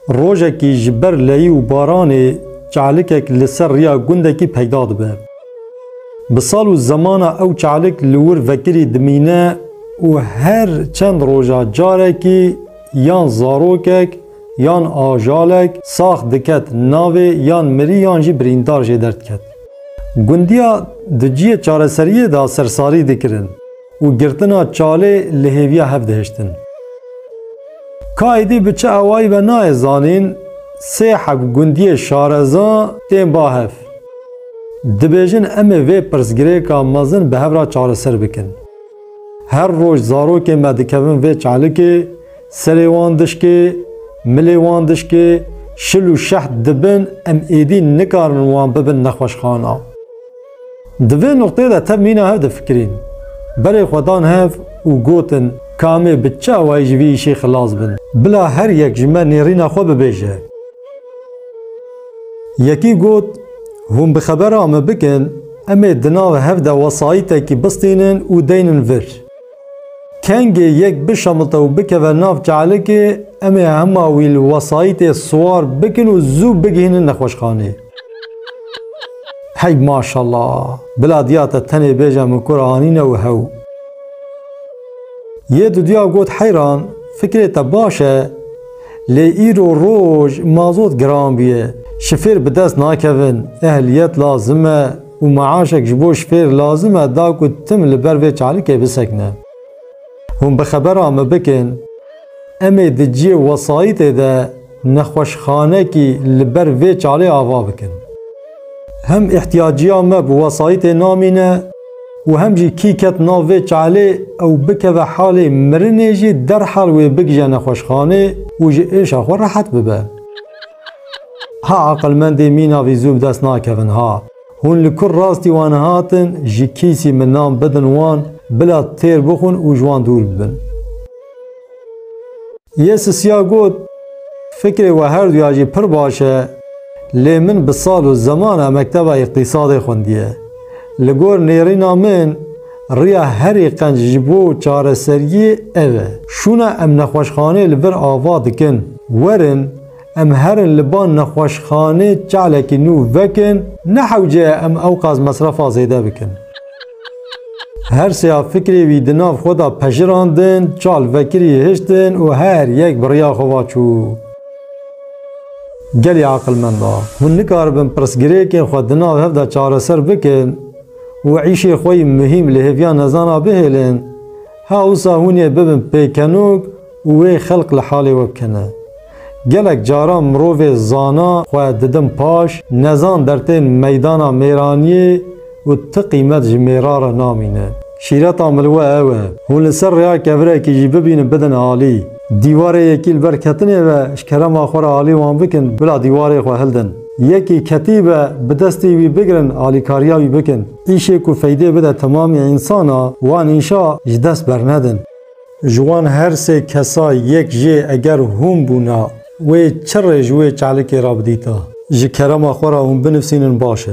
Rojekî ji ber leyî û baranê çalikek li ser riya gundekî peyda dibe. Bi sal û zemana ew çalik li wir vekirî dimîne û her çend roja carekî yan zarokek yan ajalek sax diket navê yan mirî yan jî birîndar jê derdiketî. Gundiya di ciyê çareseriyê de sersarî dikirin. Û girtina çalê li hêviya hev dihiştin. Ka êdî bi çi awayî be nayê zanîn, sê heb gundiyê şareza tên ba hev. Dibêjin em ê vê pirsgirêka mezin bi hev re çareser bikin. Her roj zarokên me dikevin vê çalikê, serê wan dişkê, milê wan dişkê, şil û şeht dibin em êdî nikarin wan bibin nexweşxana. Di vê nuqteyê de tev mîna hev difikirîn. Berê xwe dan hev û gotin ka em ê bi çi awayî ji vî îşê xilas bin. Bila her yek ji me nêrîna xwe bibêje. Yekî got, Hûn bi xebera min bikin, em ê di nav hev de wesayîtekî bistînin û deynin vir. Kengê yek bişemite û bikeve nav kelikê, em ê hema wî li wesayîtê siwar bikin û zû bigihînin nexweşxaneyê. Hey maşala! Bila diya te tenê bêje min kûr anîne û hew. Yê duduya got heyran, fikrê te baş e, lê îro roj mazot giran bûye, şifêr bi dest nakevin, ehliyet lazim e, û meaşek ji bo şfêr lazim e da ku tim li ber vê çalikê bisekine. Hûn bi xebera me bikin, em ê di cihê wesayîtê de nexweşxanekî li ber vê çalê ava bikin. Hem îhtîyaciya me bi wesayîtê namîne û hem jî kî ket nav vê çalê ew bikeve halê mirinê jî derhal wê bigije nexweşxanê û ji êşa xwe rehet bibe. Ha aqilmendê mîna vî zû bi dest nakevin ha. Hûn li kur rastî wan hatin ji kîsî min nan bidin wan bila têr bixwin û ji wan dûr bibin. Yê sisiya got, Fikrê we her duya jî pir baş e, lê min bi sal û zeman a mekteba îqtîsadê xwindiye. Li gor nêrîna min, Riya herî qenc ji bo çareseriyê ev e. Şûna em nexweşxanê li vir ava dikin. Werin em herin li ba nexweşxanê çalekî nû vekin, ne hewce ye em ewqas mesrefa zêde bikin. Her seya fikrê wî di nav xwe de pejirandin, çal vekirî hiştin û her yek bi riya xwe va çû. Gelê aqilmenda! Hûn nikaribin pirsgirêkên xwe di nav hev de çareser bikin? û îşê xwe yî muhîm li hêviya nezana bihêlin, ha wisa hûn ê bibin pêkenok û wê xelk li halê we bikene. Gelek caran mirovê zana xwe didin paş, nezan dertên meydana mêraniyê û ti qîmet ji mêra re namîne. Şîreta min li we ew e, hûn li ser rêya kevirekî jî bibînin bidin alî. Dîwarê yekî li ber ketinê ve ji kerema xwe re alî wan bikin, bila dîwarê xwe hildin. Yekî ketî be bi destê wî bigirin alîkariya wî bikin. Îşê ku feydê bide temamê însan a wan îşa ji dest bernedin. Ji wan her sê kesa yek jê eger hûn bûna wê çi rê ji wê çalikê ra bidîta? Ji kerema xwe ra hûn binivsînin baş e.